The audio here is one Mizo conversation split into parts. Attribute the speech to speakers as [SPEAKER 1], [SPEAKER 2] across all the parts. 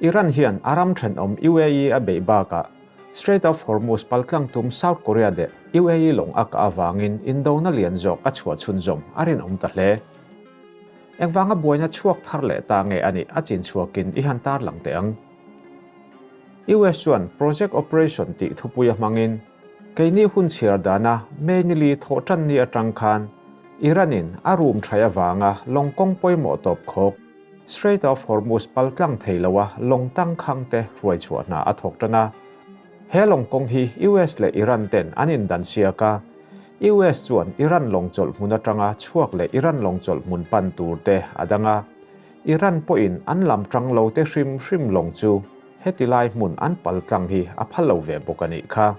[SPEAKER 1] Iran hian a ram thenawm UAE a beih bakah Strait of Hormuz paltlang tum South Korea leh UAE lawng a kah avangin indona lian zawk a chhuah chhunzawm a rinawm ta hle. Engvanga buaina chhuak thar leh ta nge a nih a chin chhuakin i han tarlang teh ang. US chuan Project Operation tih thupui a hmangin keini hun chhiar dana mainly thawh tanni atang khan Iran-in a rum thai avanga lawng kawng pawimawh tawp khawk, Strait of Hormuz pal tlang thei loa lawng tang khang te hruaichhuah hna a thawk tan a. He lawng kawng hi US leh Iran ten an indan siak a. US chuan Iran lawng chawlh hmun atanga chhuak leh Iran lawng chawlh hmun pan tur te a dang a. Iran pawhin an lam tang lo te hrim hrim lawng chu heti lai hmun an pal tlang hi a phal lo ve bawk a nih kha.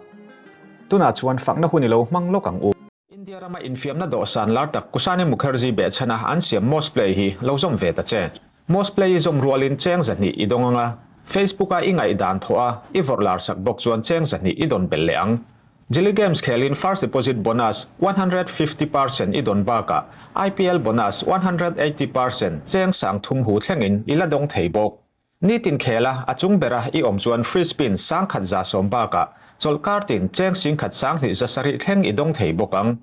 [SPEAKER 1] Tunah chuan fakna hun ilo hmang lawk ang u. India rama infiamna dawhsan lar tak Kusani Mukherjee behchhana an siam Moss Play hi lo zawm ve ta che. Moss Play i zawm rualin cheng zahnih i dawng ang a, Facebook a i ngaihdan thawh a, i vawrh larsak bawk chuan cheng zahnih i dawn belh leh ang. Jilly Games khelin First Deposit Bonus one hundred fifty per cent i dawn bakah IPL Bonus one hundred eighty per cent cheng sang thum hu thlengin i la dawng thei bawk. Nitin khela a chung bera i awm chuan free spin sang khat za sawm bakah chawlh kar tin cheng sing khat sang hnih za sarih thleng i dawng thei bawk ang.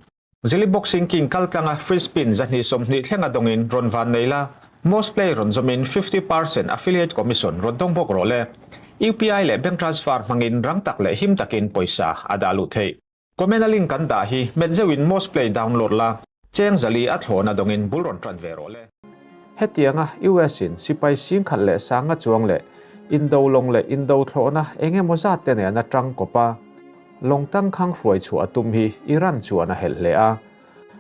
[SPEAKER 1] Zili boxing king kal tlanga free spin za hnih sawm hnih thlenga dawngin rawn van nei la, most play rawn zawm in fifty percent affiliate commission rawn dawng bawk rawh le. UPI leh bank transfer hmangin rang tak leh him takin pawisa a dah luh theih. Comment a link kan dah hi hmet zeuh in most play download la, cheng zali a thlawn a dawng in bul rawn ṭan ve rawh le. Hetiang a, US in sipai singkhat leh sanga chuang leh Indo lawng leh Indo thlawhna eng emaw zat te nen a ṭang kawp a, lawng tangkhang hruai chhuah a tum hi Iran chuan a helh hle a.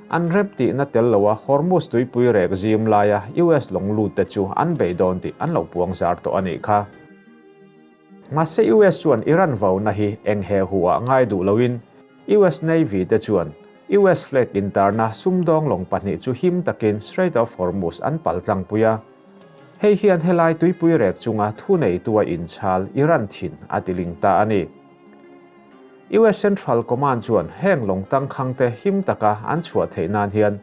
[SPEAKER 1] An rep tih na tel lo a Hormuz tuipui rek zim laia US lawng lut te chu an bei dawn tih an lo puang zar tawh a nih kha. Mahse US chuan Iran vauna hi eng heh huh ah ngai duh lo in US Navy te chuan US flag in tarna sumdawng lawng pahnih chu him takin Strait of Hormuz an pal tlangpui a. Hei hian helai tuipui rek chunga thuneitua inchhal Iran thin a tiling ta a ni. US Central Command chuan heng lawng tangkhangte him taka an chhuah theih nan hian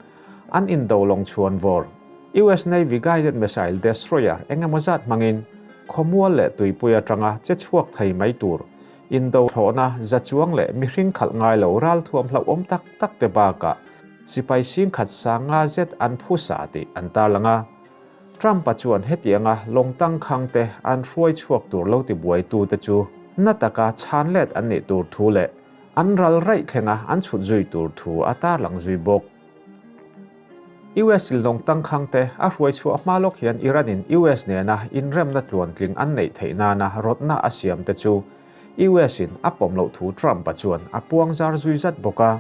[SPEAKER 1] An indo lawng chhuan vawr. US Navy guided missile destroyer engemaw zat hmangin khawmual leh tuipui atanga che chhuak thei mai tur, indo thlawhna za chuang leh mihring khalh ngai lo ral thuam hlauhawm tak tak te bakah sipai sing khat sanga zet an push a tih an tarlang a. Trump-a chuan hetianga lawng tangkhang te an hruai chhuak tur lo tibuaitute chu hna taka chhan let an nih tur thu leh An ral raih thleng a, an chhut zui tur thu a tarlang zui bawk. US tlilawng tangkhangte a hruaichhuah hma lawk hian Iran-in US nena inremna tluan tling an neih theih nana rawtna a siamte chu US-in a pawm loh thu Trump-a chuan a puangzar zui zat bawk a.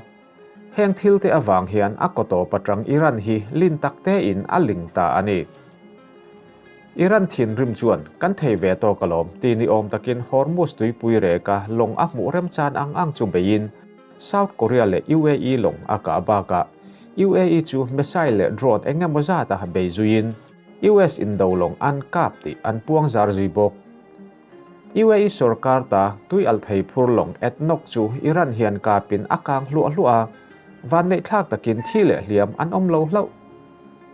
[SPEAKER 1] Heng thilte avang hian a kawtawp atang Iran hi lin taktein a ling ta a ni. Iran thinrim chuan kan thei ve tawk alawm ti ni awm takin Hormuz tuipui reka lawng a hmuh rem chan ang ang chu beiin South Korea leh UAE lawng a kah bak a, UAE chu missile leh drone eng emaw zat a bei zuiin US indo lawng an kap tih an puang zar zui bawk. UAE sorkar ta tui alh thei phur lawng at nawk chu Iran hian kapin a kang hluah hluah a, vanneihthlak takin thi leh hliam an awm lo hlauh.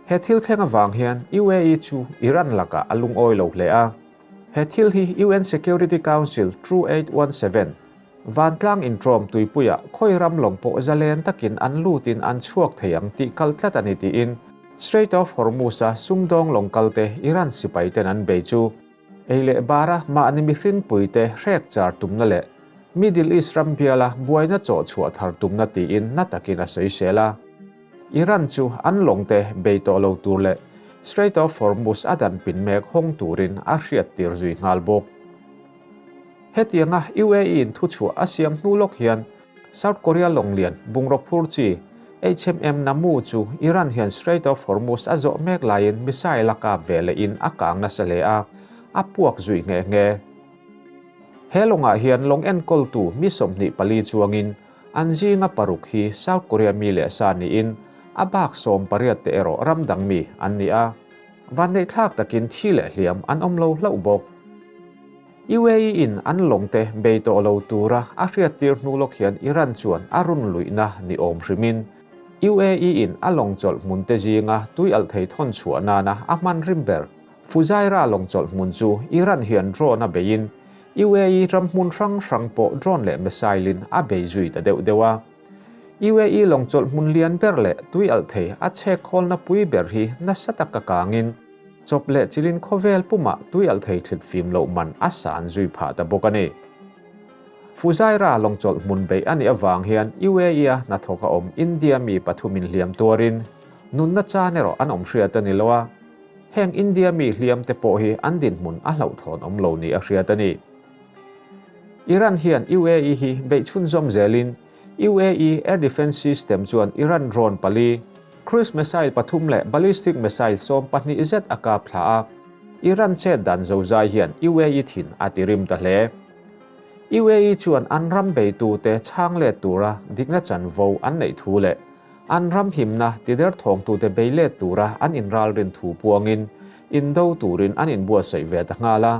[SPEAKER 1] He thil thleng avang hian UAE chu Iran lakah a lungawi lo hle a. He thil hi UN Security Council True Aid One Seven, Vantlang Intawm tuipuiah khawi ram lawm pawh zalen takin an lutin an chhuak thei ang tih kal tlat a ni tiin Strait of Hormuz-a sumdawng lawng kalte Iran sipaiten an bei chu. Ei leh bara mahni mihring puite hrek char tumna leh Middle East ram biala buaina chawh chhuah thar tumna tiin hna takin a sawisel a. Iran chu an lawngte bei tawh lo tur leh Strait of Hormuz a dan pin mek hawng turin a hriat tir zui nghal bawk. Hetianga UAE-in thuchhuah a siam hnu lawk hian South Korea lawnglian bungraw phur chi HMM Namu chu Iran hian Strait of Hormuz a zawh mek laiin missile a kap ve lehin a kang nasa hle a, a puak zui nghe nghe. He lawngah hian lawng enkawltu mi sawmhnih pali chuangin an zinga paruk hi South Korea mi leh sa niin a bak sawm pariat te erawh ram dang mi an ni a, vanneihthlak takin thi leh hliam an awm lo hlauh bawk. UAE-in an lawmte bei tawh lo tura a hriattir hnu lawk hian Iran chuan a run luihna ni awm hrimin UAE-in a lawng chawlh hmunte zinga tui alh thei thawn chhuah nana a hmanrim ber. Fujairah lawng chawlh hmun chu Iran hian drone-a beiin UAE ramhmun hrang hrang pawh drone leh missile-in a bei zui ta deuh deuh a. UAE lawng chawlhmun lian ber leh tui alh thei a chhek khawlna pui ber hi nasa tak a kangin chawp leh chilin khawvel pumah tui alh thei thlit fim loh man a san zui phah ta bawk a ni. Fujairah lawng chawlhmun beih a nih avang hian UAE-a hnathawk a awm India mi pathum inhliam tuarin nunna chan erawh an awm hriat a ni lo a, heng India mi hliam te pawh hi an dinhmun a hlauhthawn awm lo nih a hriat a ni. Iran hian UAE hi beih chhunzawm zelin UAE Air Defence System chuan Iran drone pali, cruise missile pathum leh ballistic missile sawm pahnih zet a kap thla a, Iran chet dan zo zai hian UAE thin a ti rim ta hle. UAE chuan an ram beitute chhang let tura dikna chanvo an neih thu leh an ram himna ti derthawngtute bei let tura an inralrin thu puangin indo turin an inbuatsaih ve ta nghal a,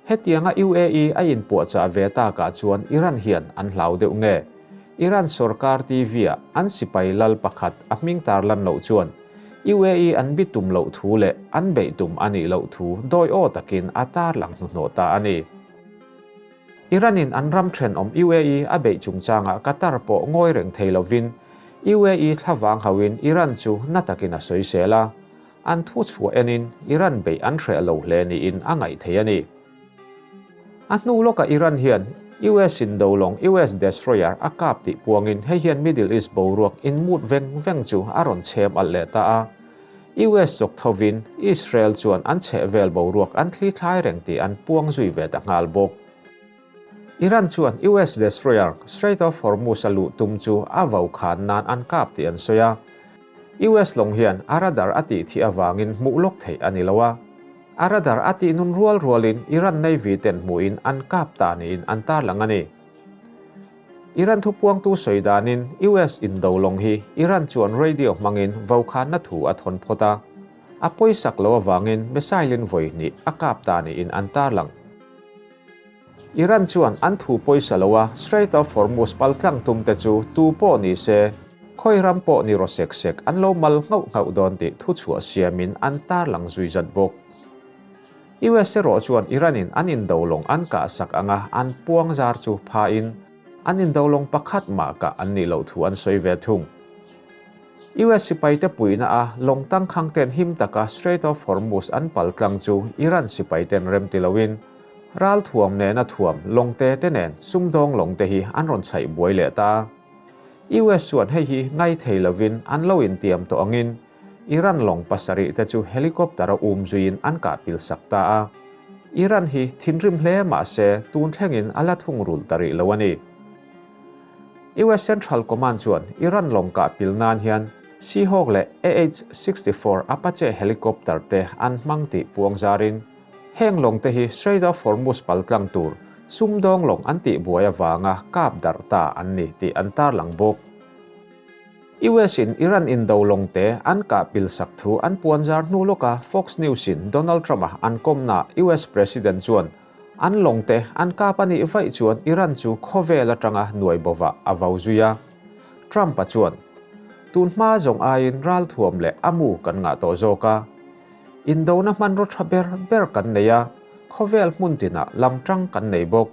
[SPEAKER 1] Hetianga UAE a inpuahchah ve takah chuan Iran hian an hlau deuh nge? Iran sorkar TV-a an sipai lal pakhat a hming tar lan loh chuan UAE an bi tum loh thu leh an beih tum a nih loh thu dawiaw takin a tarlang hnuhnawh ta a ni. Iran-in an ram thenawm UAE a beih chungchangah Qatar pawh ngawi reng thei lovin UAE thlavang hauin Iran chu na takin a sawi sel a. An thu chhuah enin Iran beih an hreh lo hle niin a ngaih thei a ni. A hnu lawkah Iran hian US in do lawng US destroyer a kap tih puangin hei hian Middle East boruak inmut veng veng chu a rawn chhem alh leh ta a. US zawk thovin Israel chuan an chhehvel boruak an thlithlai reng tih an puang zui ve ta nghal bawk. Iran chuan US Destroyer Strait of Hormuz a luh tum chu a vau khan nan an kap tih an sawi a. US lawng hian a radar a tih thih avangin hmuh lawk theih a ni lo a. A radar a tih nun rual rualin Iran Navy ten hmuhin an kap ta niin an tarlang a ni. Iran thupuangtu sawi danin US in do lawng hi Iran chuan radio hmangin vau khanna thu a thawn phawt a. A pawisak lo avangin missile-in vawi hnih a kap ta niin an tarlang. Iran chuan an thu pawisa lo a, Strait of Hormuz pal tlang tum te chu tu pawh ni se, khawi ram pawh ni rawh sek sek, an lo mal nghauh nghauh dawn tih thu chhuah siamin an tar lang zui zat bawk. US erawh chuan Iran-in an indo lawng an kah sak ang a, an puangzar chu phain an indo lawng pakhat mah kah an nih loh thu an sawi ve thung. US sipaite puihna a lawng tangkhangte'n him taka Strait of Hormuz an pal tlang chu Iran sipaite'n remti loin ral thuam nena thuam lawngte te nen sumdawng lawngte hi an rawn chhaih buai leh ta a. US chuan hei hi ngaithei lovin an lo intiam tawh angin Iran lawng pasarih te chu helicopter a um zuiin an kahpil sak ta a. Iran hi thinrim hle mahse tun thlengin a la thungrul ta rih lo a ni. US Central Command chuan Iran lawng kah pil nan hian Seahawk leh AH-64 Apache helicopter te an hmang tih puang zarin heng lawng te hi Strait of Hormuz pal tlang tur sumdawng lawng an tih buai avanga kap darh ta an ni tih an tarlang bawk. US-in Iran indo lawng te an kah pil sak thu an puan zar hnu lawka Fox News-in Donald Trump-a an kawmna US President chuan An lawngte an kap a nih vaih chuan Iran chu khawvel atanga nuai bovah a vo zui a. Trump-a chuan, Tun hma zawng aiin ral thuam leh a mu kan ngah tawh zawk a. Indona hmanraw tha ber ber kan nei a, khawvel hmun tinah lam ṭang kan nei bawk.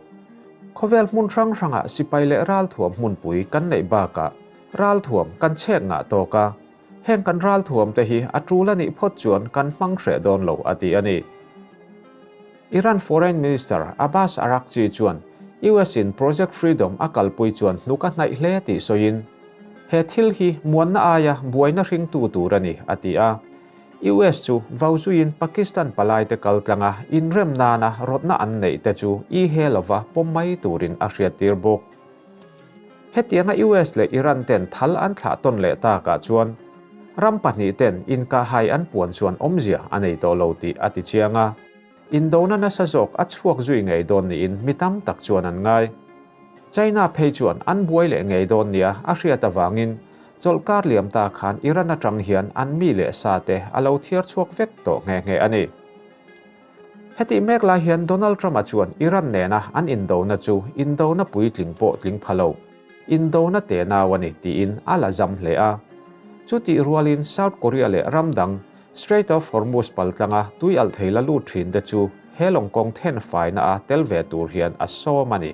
[SPEAKER 1] Khawvel hmun hrang hrangah sipai leh ral thuam hmunpui kan neih bakah ral thuam kan chhek ngah tawk a. Heng kan ral thuamte hi a ṭul a nih phawt chuan kan hmang hreh dawn lo, a ti a ni. Iran Foreign Minister Abbas Araghchi chuan US-in Project Freedom a kalpui chuan hnuk a hnaih hle tih sawiin, He thil hi muanna aia buaina hringtu tur a ni, a ti a. US chu vau zuiin Pakistan palaite kal tlanga inrem nana rawtna an neih te chu i he lova pawm mai turin a hriattir bawk. Hetianga US leh Iran ten thal an thlah tawn leh tak ah chuan ram pahnih ten inkah hai an puan chuan awmzia a nei tawh lo tih a ti chiang a. Indona nasa zawk a chhuak zui ngei dawn niin mi tam tak chuan an ngai. China phei chuan an buai leh ngei dawn nia a hriat avangin chawlh kar liam ta khan Iran atang hian an mi leh sa te a lo thiar chhuak vek tawh nghe nghe a ni. Hetih mek lai hian Donald Trump-a chuan Iran nena an indona chu indona puitling pawh tling pha lo, indona te nau a ni tiin a la zam hle a. Chutih rualin South Korea leh ram dang Strait of Hormuz paltlanga tui alh thei la lut thin te chu he lawng kawng then faina a tel ve tur hian a sawm a ni.